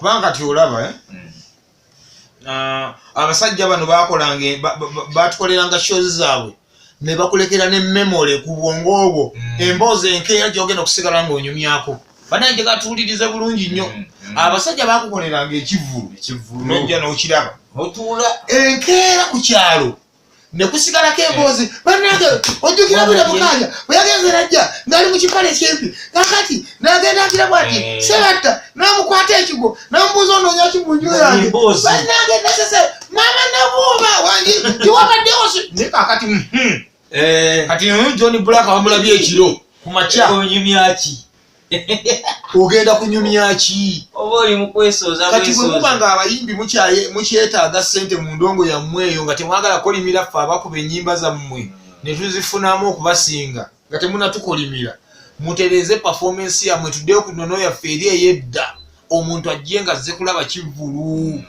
kubanga kati olaba eh? mm. ah, abasajja bano bakolanga batukoleranga shows zaabwe ne bakulekera ne memory ku bwongo obwo mm. emboozi enkeera gyogenda okusigala nga onyumyako banaye nje gatuwulirize bulungi nnyo mm, mm. abasajja bakukoleranga ekivulu nojja nokiraba otuula enkeera ku kyalo ne kusigalako emboozi eh. banange ojjukira bwira mukanya bwe yagenze najja ngali mu kipale ekimpi kakati nagenda agira bwati eh. sebatta namukwata ekigo namubuuza onoonya ki mu nju yange banange nesese mama nabuuma wangi tiwabaddewo ne kakati hmm, hmm. Eh. kati hmm, john black wamulabye ekiro ku makya onyumyaki ogenda kunyumya ki oba oli mukwesooza kati bwe muba nga abayimbi mukyetaaga ssente mu ndongo yammwe eyo nga temwagala kolimira ffe abakuba ennyimba zammwe ne tuzifunamu okubasinga nga temunatukolimira mutereeze pafoomensi yammwe tuddeyo ku nono yaffe eri ey'edda omuntu ajje nga azze kulaba kivvulu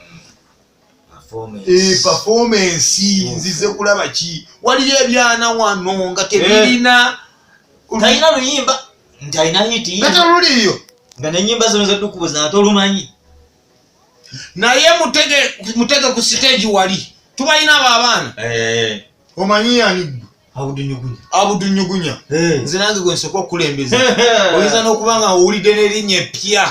Eh, performance nzize kulaba ki waliyo ebyana wano nga eh. tebirina talina luyimba nti alina hitiyatoluliyo nga nenyimba zino zedukubuza nga tolumanyi naye mutege ku siteegi wali tubalina abo abaana eh. omanyi yani gwe abudunyugunya eh. nze nange gwe nsooka okukulembeza oyinza n'okuba nga owulidde n'erinnya eppya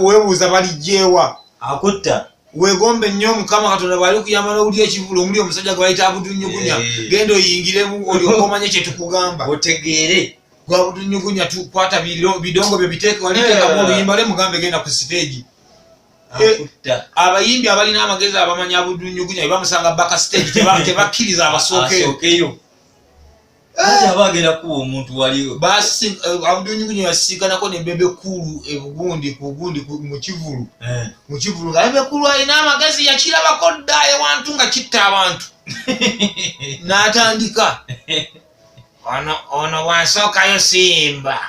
webuuza baligyewa akutta wegombe nnyo mukama katonda bwali kuyamba nowulira ekivulu omuli omusajja gwe bayita abudunyugunya eh. genda oyingiremu olyoka omanye kyetukugamba otegeere gwabudunyugunya tukwata bidongo byo biteeke waliteekamu eh. oluyimba lwe mugambe genda ku siteegi abayimbi abalina amagezi abamanya abudunyugunya ebamusanga baka stage tebakkiriza abasookeyo abagenda kuwa omuntu waliwo abudunyugunya yasiganako ne bebe kulu ebugundi kugundi mukivulu mukivulu nga bebe kulu alina amagezi yakirabako dda ewantu nga kitta abantu n'atandika ono ono wansookayo simba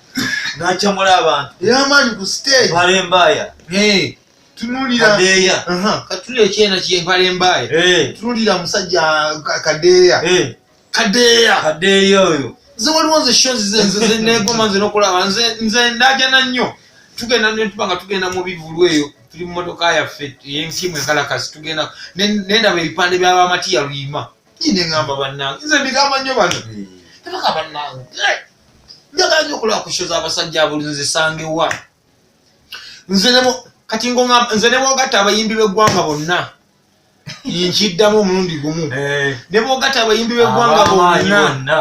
nakyamula abantu eyamaanyi ku stage mpale mbaaya tunulira kadeeya katunulira ekyena kye mpale mbaaya tunulira musajja kadeeya kadeeya kadeeya oyo nze waliwo nze sho zenegoma nze nokulaba nze nze ndajana nnyo tugenda netuba nga tugenda mu bivulu eyo tuli mu motoka yaffe yenkimu enkalakasi tugenda nendaba ebipande byabamatiya luyima ine ngamba bannange nze mbigamba nnyo bano tebaka bannange njagala nyo okulaba ku sho zabasajja abulinzisangewa nze nemo kati ngo nze nebogatta abayimbi b'eggwanga bonna nkiddamu omulundi gumu eh. nebogatta abayimbi b'eggwanga bonna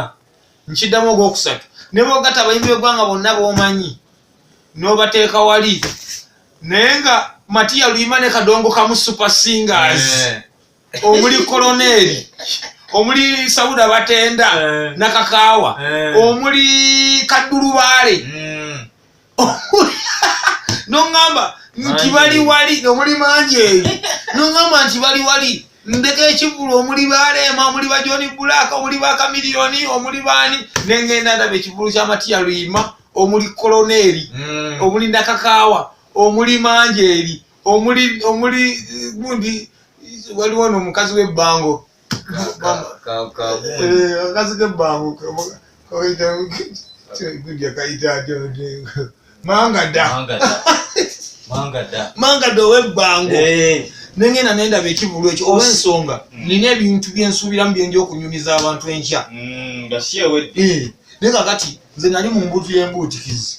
nkiddamu ogwokusatu nebogatta abayimbi b'eggwanga bonna bomanyi nobateeka wali naye nga matiya luyima ne kadongo kamu super singers eh. omuli koloneeri omuli sauda batenda eh. nakakaawa eh. omuli kaddulubaale hmm. noŋamba nti bali wali omuli mangi eyo noŋamba nti bali wali ndeka ekivulu omuli baleema omuli bajoni bulaaka omuli bakamiliyoni omuli baani nengenda ndaba ekivulu kyamatiya luyima omuli koloneeri hmm. omuli nakakaawa omuli mangi eri omuli omuli gundi waliwo no mukazi we bango kazi ke bango kaita gundi akaita ajo manga da manga da manga da manga do we bango eh nengenda nenda bekivulu ekyo oba ensonga mm. nina ebintu byensuubiramu byenja okunyumiza abantu enkya mm, eh, naye kakati nze nali mu mbuutu y'embuutikizi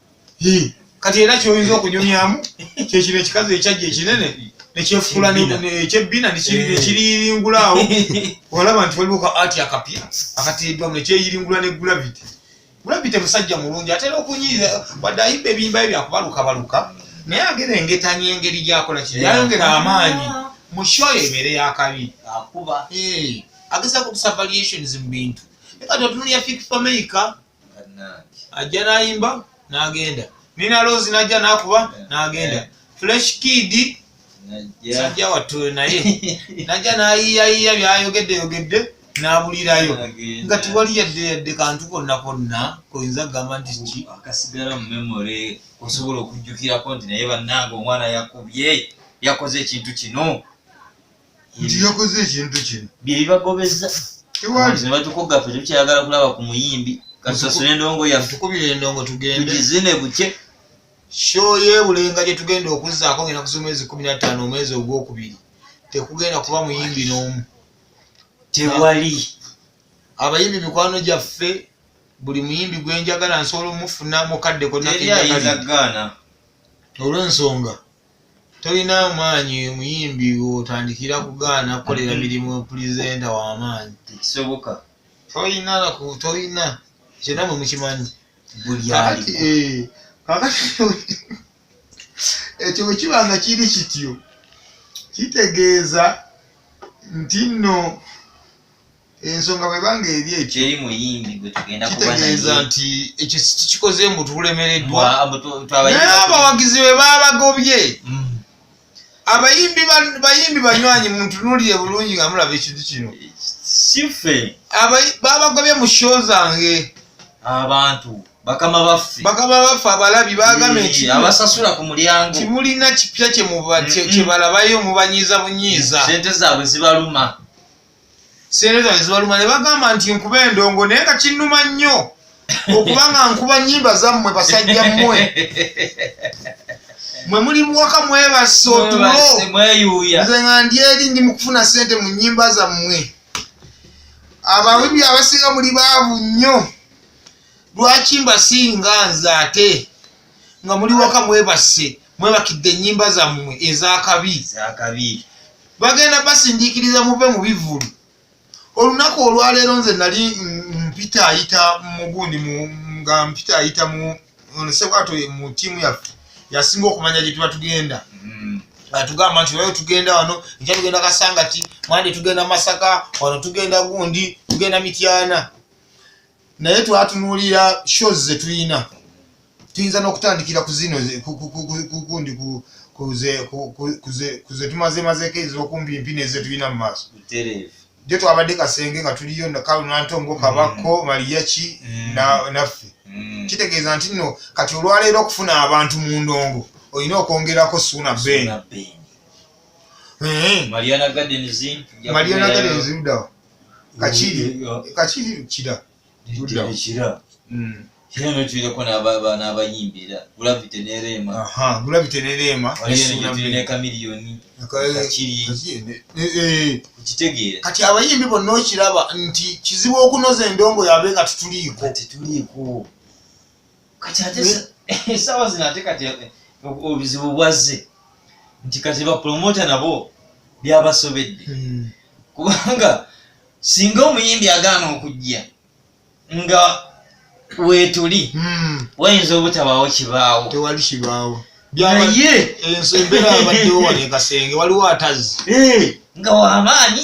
kati era kyoyinza okunyumyamu kyekino ekikazi ekyajja ekinene nekyefukula ekyebbina nekiriyiringulaawo olaba nti waliwo ka ati akapya akateeddwamu nekyeyiringula ne gravity gravity musajja mulungi atera okunyiiza wadde ayimba ebiyimba bye byakubalukabaluka naye agera engetanya engeri gyakola kino yayongera amaanyi mushoyo ebeere yakabi agezako okusavaliations mu bintu ekatontunulya fik fameica ajja nayimba nagenda nina lozi najja nakuba nagenda eh. fresh kid sajja wattu naye najja nayiyayiya byayogedde yogedde nabulirayo nga tiwali yadde yadde kantu konna konna koyinza kugamba nti ki akasigala mu memory osobola okujjukirako nti naye bannanga omwana yakubye yakoze ekintu kino nti yakoze ekintu kino byebibagobeza tewalinebatukugga fe tetukyayagala kulaba ku muyimbi katusasule endongo yatukubira endongo tugendetugizine bukye sho yebulenga gyetugenda okuzzaako ngenda kuza omwezi kumi nataano omwezi ogwokubiri tekugenda kuba muyimbi n'omu tewali abayimbi mikwano gyaffe buli muyimbi gwenjagala nsobola omufuna mukadde konnakeagaana olwensonga Tolina amaanyi muyimbi wotandikira kugaana kukolera mirimu pulizenta wamaanyi. Tekisoboka. Tolina naku tolina ekyo namwe mukimanyi. Buli ali. Kakati ekyo bwe kiba nga kiri kityo kitegeeza nti nno. ensonga bweba nga eri ekyo eri muyimbi gwe tugenda kuba naye kitegeeza nti ekyo kikoze mbu tulemereddwa naye abawagizi be babagobye mm. abayimbi bayimbi banywanyi muntunuulire bulungi nga mulaba ekintu kino sife babagobye mu sho zange abantu bakama baffe bakama baffe abalabi bagambye nti abasasula ku mulyango timulina kipya kyebalabayo mubanyiiza bunyiiza sente zaabwe zibaluma sente zange zibaluma ne bagamba nti nkuba endongo naye nga kinnuma nnyo okuba nga nkuba nyimba zammwe basajja mmwe mwe muli muwaka mwebase otulo nze nga ndi eri ndi mukufuna sente mu nyimba zammwe abawibi abasinga muli baavu nnyo lwaki mbasinga nze ate nga muli waka mwebase mwebakidde enyimba zammwe ezakabi bagenda basindiikiriza muve mu bivulu olunaku olwaleero nze nali mpita ayita mugundi nga mpita ayita mu sebwato mu tiimu yaffe yasinga okumanya gye tuba tugenda mm. atugamba nti wayo tugenda wano nja tugenda kasangati mwandi tugenda masaka wano tugenda gundi tugenda mityana naye twatunuulira shows zetulina tuyinza n'okutandikira ku zino kundi kuzetumazemazeko ezokumpi mpi nezetulina mu maaso jo twabadde kasenge nga tuliyo nakalu nantongo mm. kabakko maliyaki mm. naffe mm. kitegeeza nti no kati olwaleero okufuna abantu mu ndongo olina okwongerako suuna ben eh. mariana gardens ludawa kakiri kakiri kira kira kira mm. no tulireko n'abayimbi era gravity ne reema gravity ne reema ne kamiliyoni okitegeera kati abayimbi bonna okiraba nti kizibu okunoza endongo yabe nga tetuliiko tetuliiko kati ate sa- esaawa zino ate kati eh, ob- obuzibu bwazze nti kati bapromota nabo byabasobedde Mm. kubanga singa omuyimbi agaana okujja nga weetuli Mm. wayinza obutabaawo kibaawo tewali kibaawo naye enso embeera abaddewo wano ekasenge waliwo atazzi Eh, nga wamaanyi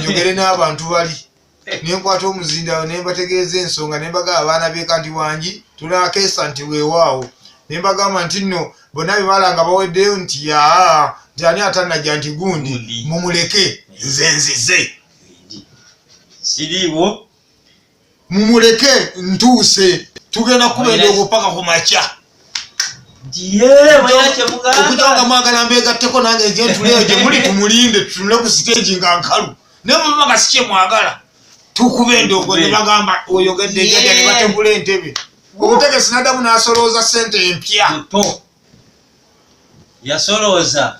njogere n'abantu bali nenkwata omuzindawo nembategeeza ensonga nembaga abaana beka nti wangi tunakeesa nti wewaawo nembagamba nti nno bonna bebala nga baweddeyo nti yaa nti ani atanajja nti gundi mumuleke nze nzize siriiwo mumuleke ntuuse tugenda kuba endoogo paka ku makya okujanga mwagala mbegatteko nange njentuleyo gye muli tumulinde tutunule ku siteegi nga nkalu naye mubanga si kye mwagala tukuba endoogo ne bagamba oyogedde jaja ne bategula entebe omutegesi nadamu n'asolooza ssente empya yasolooza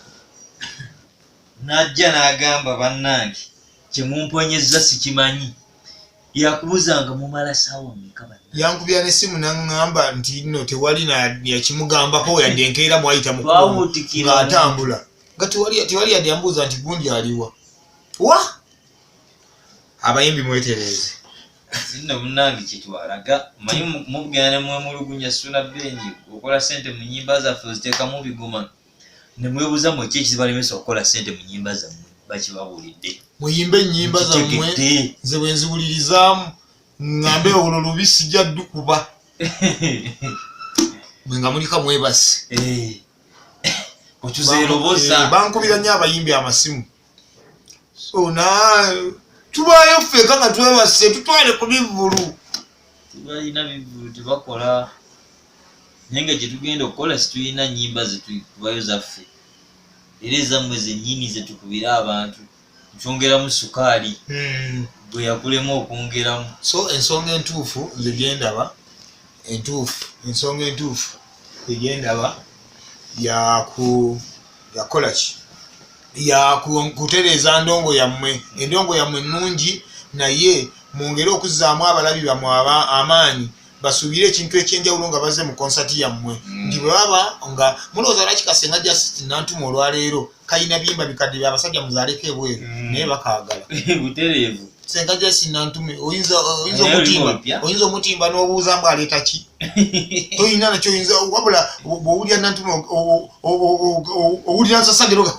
n'ajja n'agamba bannange kye mumponyezza sikimanyi yakubuzanga mumala sawa mekaba yankubira ne simu nangamba nti no tewali na yakimugambako yadde enkeera mwayita mukuwutikira atambula nga tewali tewali yadde yambuuza nti gundi aliwa wa abayimbi mwetereeze zinno munange kyetwalaga manyi mugenda nemwemulugunya suna beni okola sente mu nyimba zaffe oziteekamu bigoma ne mwebuuza mwe ki ekizibalemesa okukola ssente mu nnyimba zammwe bakibabuulidde muyimbe ennyimba zammwe nze bwe nziwulirizaamu ŋŋambe olwo lubi sijja ddukuba mwe nga mulika mwebasi eh. otuzeeroboza eh, bankubira nnyo abayimbi amasimu sona tubaayo ffeka nga twebase tutwale ku bivvulu balina bivvulu tebakola naye nga gyetugenda okukola situlina nyimba zetukubayo zaffe era ezammwe zenyini zetukubira abantu nkyongeramu sukaali hmm. bwe yakulemu okwongeramu so ensonga entuufu nze gyendaba entuufu ensonga entuufu egyendaba yakuyakola ki yakutereeza ndongo yammwe endongo yammwe ennungi naye mwongere okuzzaamu abalabi bamwe aba amaanyi basuubire ekintu ekyenjawulo nga baze mu konsati yammwe mm. nti bwebaba nga mulowooza lwaki kasenga just nantuma olwaleero kalina biyimba bikadde bya basajja muzaaleko ebweru mm. naye bakaagala butereevu senga jasinantume oyinza omutimba oyinza omutimba n'obuuza mbu aleeta ki toyina nakyo oyinza wabula bwowulira nantume owulira nsasageroga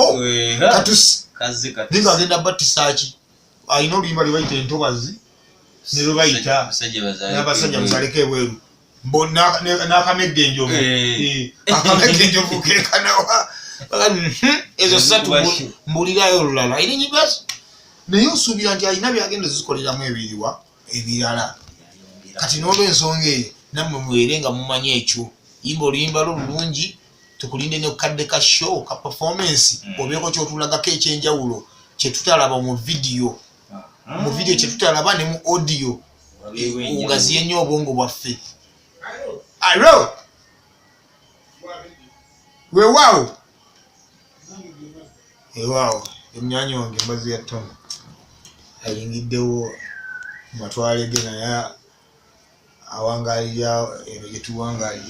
katusi ninga agenda battisaaki alina oluyimba lwe bayita entobazi ne lwe bayita n'abasajja musaleko ebweru n'akamegga enjovu eh. Eh, akamegga enjovu kekanawa hmm, ezo satu mbulirayo olulala eri nyimbazi naye osuubira nti alina byagenda ezikoleramu ebiriwa ebirala kati n'olwensonga eyo nammwe mwere nga mumanyi ekyo yimba oluyimba lwo lulungi tukulinde ne kadde ka show ka performance mm. obeeko kyotulagako ekyenjawulo kyetutalaba mu vidiyo ah. mu vidiyo kyetutalaba ne mu audio ogaziye nnyo obwongo bwaffe alo wewaawo ewaawo emyanya wange mbazi ya tona ayingiddewo matwale ge naye awangalira ebyo gyetuwangalira